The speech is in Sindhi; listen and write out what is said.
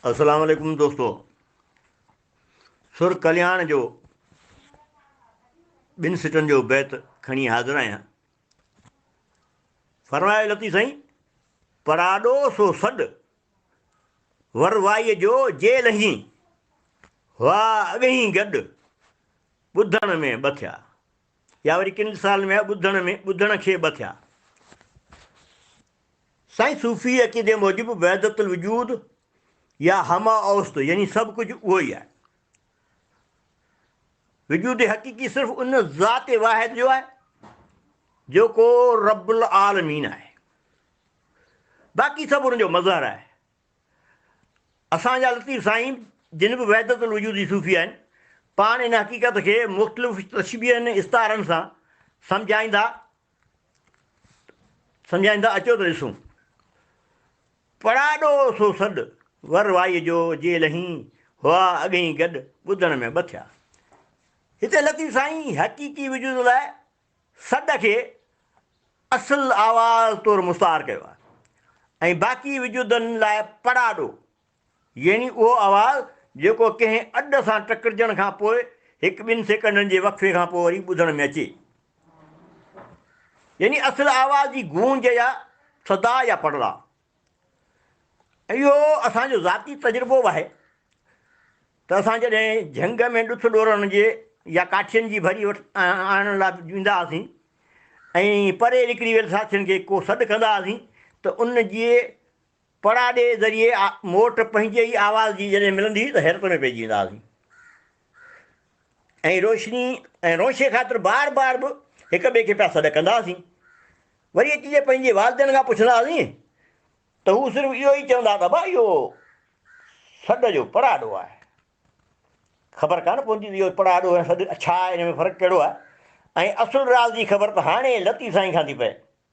السلام عليڪم دوستو سر ڪلياڻ جو ٻن سٽن جو بيت کڻي حاضر آهيان فرمايو لطيف سائين پراڏو سو سڏ وروائي جو جي لهين وا اڳهين گڏ ٻڌڻ ۾ ٻه ٿيا يا وري ڪن سالن ۾ ٻڌڻ ۾ ٻڌڻ کي ٻه ٿيا سائين صوفي عقيدي موجب وحدت الوجود يا همه اوست يعني سڀ ڪجهه اهو ئي آهي. وجود حقيقي صرف ان ذات واحد جو آهي جيڪو رب العالمين آهي. باقي سڀ ان جو مظهر آهي. اسان جا لطيف سائين جن به وحدت الوجود جي صوفي آهن پاڻ ان حقيقت کي مختلف تشبيهن استعارن سان سمجهائيندا سمجهائين ٿا اچو ته ڏسون. پڙاڏو سو سڏ، ور وائيء جو جي لهين، هئا اڳهين گڏ، ٻڌڻ ۾ ٻه ٿيا. هتي لطيف سائين حقيقي وجود لاء سڏ کي اصل آواز طور مستعار ڪيو آهي ۽ باقي وجودن لاء پڙاڏو، يعني اهو آواز جيڪو ڪنهن اڏ سان ٽڪرجڻ کان پوء هڪ ٻن سيڪنڊن جي وقفي کان پوء وري ٻڌڻ ۾ اچي. يعني اصل آواز جي گونج يا صدا يا پڙلاء. اهو اسان جو ذاتي تجربو به آهي ته اسان جڏهن جهنگ ۾ ڏٿ ڏورڻ جي يا ڪاٺين جي ڀري آڻڻ لاء ويندا هئاسين ۽ پري نڪري ويل ساٿين کي ڪو سڏ ڪندا هئاسين ته ان جي پڙاڏي ذريعي موٽ پنهنجي ئي آواز جي جڏهن ملندي هئي ته حيرت ۾ پئجي ويندا هئاسين ۽ روشني ۽ رونشي خاطر بار بار به هڪ ٻئي کي پيا سڏ ڪندا هئاسين. وري اچي جي پنهنجي والدين کان پڇندا هئاسين ته هو صرف اهو ئي چوندا ته ابا اهو سڏ جو پڙاڏو آهي. خبر ڪانه پوندي ته اهو پڙاڏو ۽ سڏ ڇا آهي، ان ۾ فرق ڪهڙو آهي ۽ اصل راز جي خبر ته هاڻي لطيف سائين کان ٿي پئي.